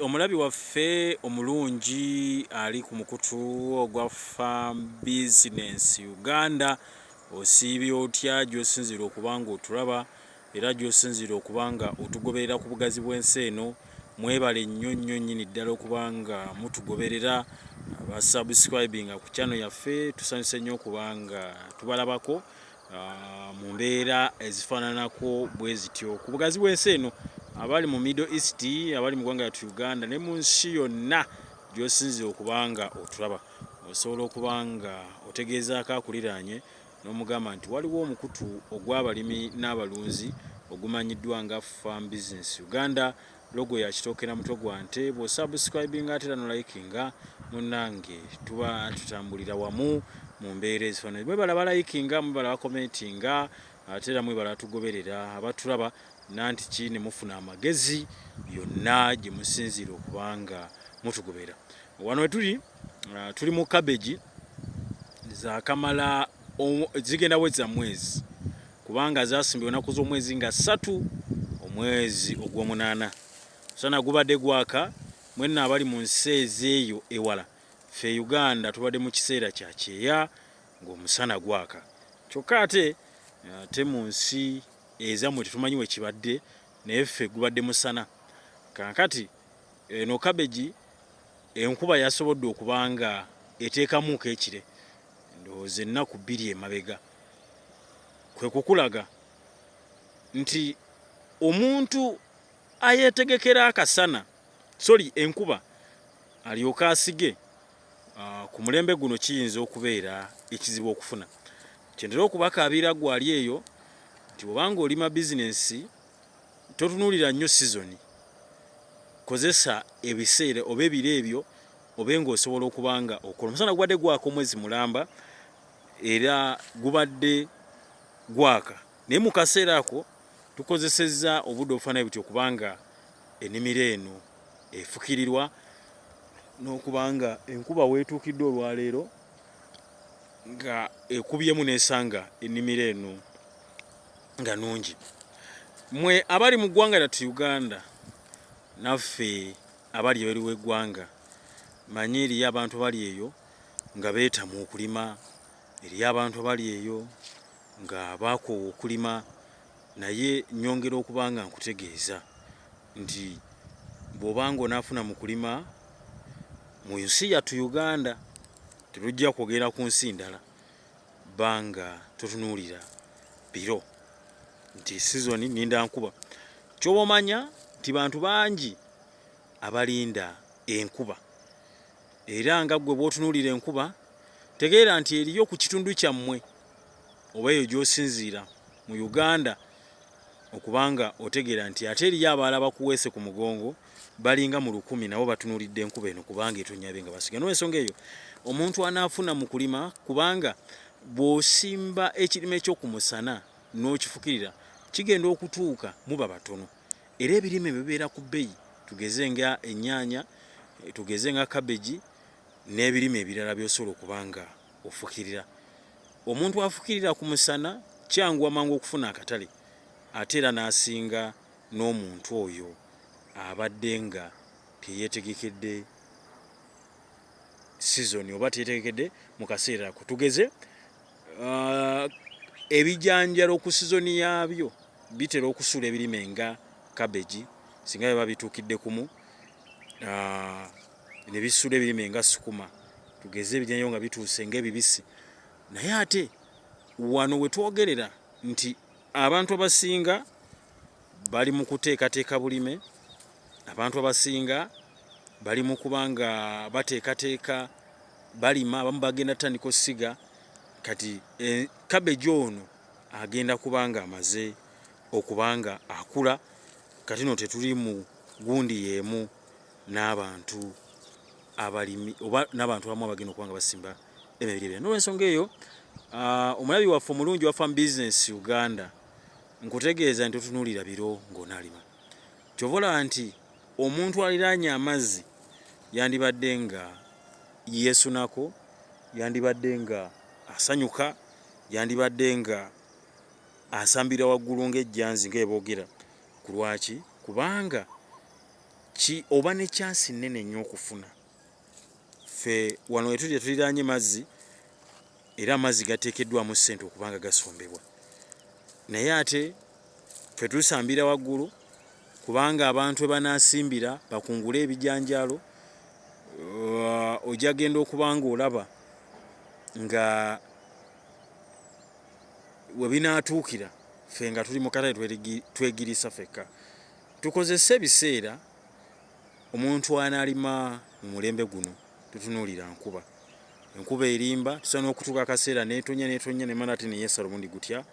Omulabi waffe omulungi ali ku mukutu ogwa Farm Business Uganda, osiibye otya gy'osinziira okuba ng'otulaba era gy'osinziira okuba nga otugoberera ku bugazi bw'ensi eno? Mwebale nnyo nnyo nnyini ddala okuba nga mutugoberera aba subscribinga ku channel yaffe, tusanyuse nnyo okuba nga tubalabako ah, mu mbeera ezifaananako bwe zityo ku bugazi bw'ensi eno abali mu middle east abali mu ggwanga yatu uganda ne mu nsi yonna gyosinzira okuba nga otulaba osobola okuba nga otegeezaako akuliraanye n'omugamba nti waliwo omukutu ogw'abalimi n'abalunzi ogumanyiddwa nga farm business uganda Logo ya kitooke na mutwe gwa nte bwo subscribinga ate era no likinga munange tuba tutambulira wamu mu mbeera ezifananye mwebala balayikinga mwebala bakomentinga ate era mwebala tugoberera abatulaba nanti ki ne mufuna amagezi yonna gye musinziira okubanga mutugobera wano wetuli uh, tuli mu kabeji zakamala zigenda weza mwezi kubanga zasimbye onaku z'omwezi nga ssatu omwezi ogw'omunaana sana gubadde gwaka mwenna abali mu nsi ezeeyo ewala fe uganda tubadde mu kiseera kya kyeya ng'omusana gwaka kyokka ate eh, te mu nsi ezamwe tetumanyi wekibadde naye ffe gubadde musana kankati eno kabegi enkuba yasobodde okubanga eteekamuuko ekire ndowooza ennaku bbiri emabega kwe kukulaga nti omuntu ayeetegekera akasana soli enkuba alyoke asige ah, ku mulembe guno kiyinza okubeera ekizibu okufuna kyentera okubakaabira gwali eyo nti obanga olima bizinensi totunuulira nnyo sizoni kozesa ebiseera oba ebiro ebyo obe ng'osobola okuba nga okola omusana gubadde gwaka omwezi mulamba era gubadde gwaka naye mu kaseera ako tukozesezza obudde obufaanayo buti okuba nga ennimiro eno efukirirwa n'okuba nga enkuba weetuukidde olwaleero nga ekubyemu n'esanga ennimiro eno nga nungi mwe abali mu ggwanga lyattu uganda naffe abali ebweru w'eggwanga. Mmanyi eriyo abantu abali eyo nga beetamwa okulima, eriyo abantu abali eyo nga baakoowa okulima, naye nnyongera okuba nga nkutegeeza nti bw'oba nga onaafuna mu kulima mu nsi yattu Uganda, terujja kwogera ku nsi ndala, ba nga totunuulira biro nti sizoni nninda nkuba. Ky'oba omanya nti bantu bangi abalinda enkuba era nga ggwe bw'otunuulira enkuba tegeera nti eriyo ku kitundu kyammwe oba eyo gy'osinziira mu Uganda okubanga otegeera nti ate eriyo abaala bakuweese ku mugongo balinga mu lukumi nabo batunuulidde enkuba eno kubanga etonyabe nga basiga n'ensonga eyo omuntu anaafuna mu kulima kubanga bw'osimba ekirime kyo ku musana n'okifukirira kigenda okutuuka muba batono era ebirime bwe bibeera ku bbeyi tugeze nga ennyaanya, tugeze nga kabbegi n'ebirime ebirala by'osobola okuba nga ofukirira. Omuntu afukirira ku musana kyanguwa mangu okufuna akatale ate era n'asinga n'omuntu oyo abadde nga teyeetegekedde sizoni oba teyeetegekedde mu kaseera ako. Tugeze Uh, ebijanjalo ku sizoni yaabyo bitera okusuula ebirime nga kabegi singa biba bituukidde kumu uh, ne bisuula ebirime nga sukuma tugeze ebijanjalo nga bituuse ngaebibisi naye ate wano wetwogerera nti abantu abasinga bali mu kuteekateeka bulime, abantu abasinga bali mu kuba nga bateekateeka balima, abamu bagenda tutandika osiga kati kabeji eh, ono agenda kuba nga amaze okuba nga akula kati no tetuli mu gundi yeemu n'abantu abalimi oba n'abantu abamu abagenda okuba nga basimba emibiri ebyo nolwensonga eyo ah, omulabi waffe omulungi wa farm business uganda Nkutegeeza nti totunuulira biro ng'onaalima. Kyova olaba nti omuntu aliraanye amazzi yandibadde nga yeesunako, yandibadde nga asanyuka, yandibadde nga asambira waggulu ng'ejjanzi nga eboogera. Ku lwaki? Kubanga ki oba ne kyansi nnene nnyo okufuna. Ffe wano wetuli tetuliraanye mazzi era amazzi gateekeddwamu ssente okuba nga gasombebwa naye ate ffe tusambira waggulu kubanga abantu ebanaasimbira bakungule ebijanjaalo uh, ojja genda okuba ngaolaba nga webinaatuukira ffe nga tuli mu katale twegirisa fekka tukozese ebiseera omuntu anaalima mu mulembe guno Tutunuulira nkuba. Enkuba erimba, tusobola n'okutuuka akaseera n'etonnya n'etonnya ne mala ate ne yeesala omulundi gutya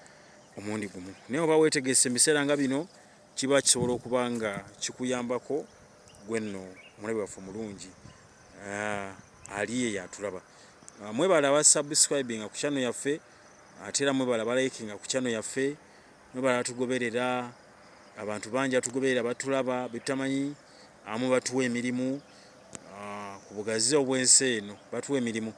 omulundi gumu. Naye oba weetegese mu biseera nga bino kiba kisobola okuba nga kikuyambako gwe nno omulabi waffe omulungi ah, ali eyo atulaba. Ah, mwebala aba subscribinga ku channel yaffe ate era mwebala balayikinga ku channel yaffe mwebala batugoberera abantu bangi batugoberera batulaba betutamanyi amu batuwa emirimu Ah, ku bugazi obw'ensi eno batuwa emirimu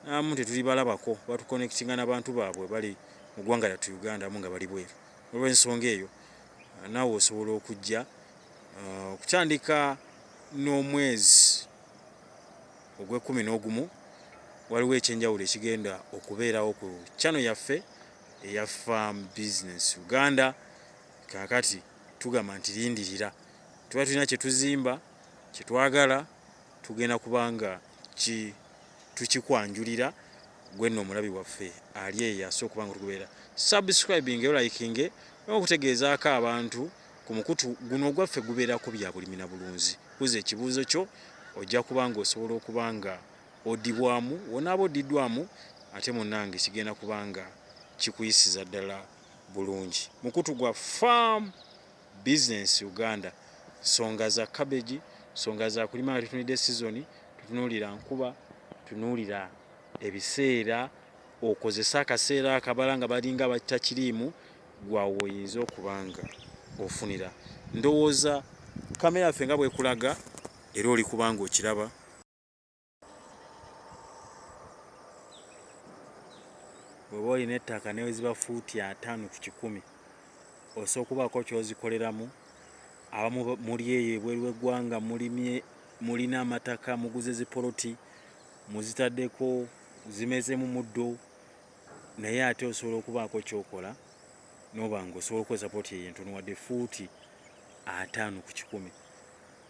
n'abamu tetulibalabako, batukonectinga na bantu baabwe bali mu ggwanga lyattu Uganda abamu nga bali bweru. Olw'ensonga eyo ah, naawe osobola okujja ah, okutandika n'omwezi ogw'ekkumi n'ogumu waliwo ekyenjawulo ekigenda okubeerawo ku chano yaffe eya farm business uganda kakati tugamba nti lindirira tuba tulina kyetuzimba Kye twagala tugenda kuba nga ki, tukikwanjulira ggwe nno omulabi waffe ali eyo asoose okuba nga otugoberera. Subscribinga era olayikinge n'okutegeezaako abantu ku mukutu guno ogwaffe gubeerako bya bulimi na bulunzi. Buza ekibuuzo kyo, ojja kuba nga osobola okuba nga odibwamu, w'onaaba oddiddwamu ate munnange kigenda kuba nga kikuyisiza ddala bulungi. Mukutu gwa Farm. business Uganda songa za cabbage songa za kulima nga tutunide season tutunulira nkuba tunulira ebiseera okozesa akaseera akabala nga balinga batta kiriimu gwawoyinza okubanga ofunira ndowooza kamera ffe nga bwekulaga era oli kubanga okiraba bw'oba olina ettaka neweziba fuuti ataano ku kikumi osobola okubaako kyozikoleramu abamu muli eyo ebweru w'eggwanga mulimye mulina amataka muguze zipoloti muzitaddeko zimezemu muddo naye ate osobola okubaako kyokola noba nga osobola okukozesa poloti eyo entono wadde fuuti ataano ku kikumi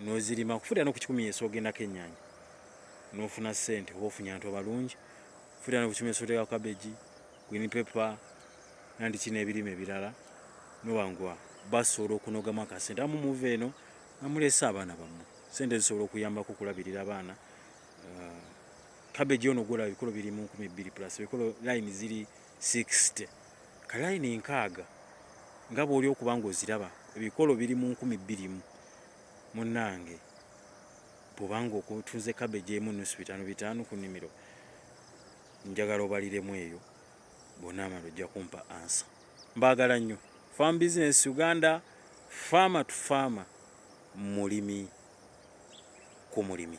nozirima kufulira no ku kikumi yesu ogendako ennyanya nofuna sente oba ofunye abantu abalungi kufulira no ku kikumi yesu oteka kabeji gwini pepa nandi kino ebirime ebirala nobangwa basobola okunogamu akasente amu muva eno namulese abaana bammwe sente zisobola okuyambako okulabirira abaana uh, kabeji ono gwolaba ebikolo biri mu nkumi bbiri plus ebikolo line ziri uh, 60 ka layini nkaaga nga bw'oli okuba ng'oziraba ebikolo biri mu nkumi bbiri mu munnange bw'oba ng'otunze kabeji emu nnusu bitaano bitaano ku nnimiro njagala obaliremu eyo bw'onaamala ojja kumpa ansa mbaagala nnyo farm business uganda farmer to farmer mulimi ku mulimi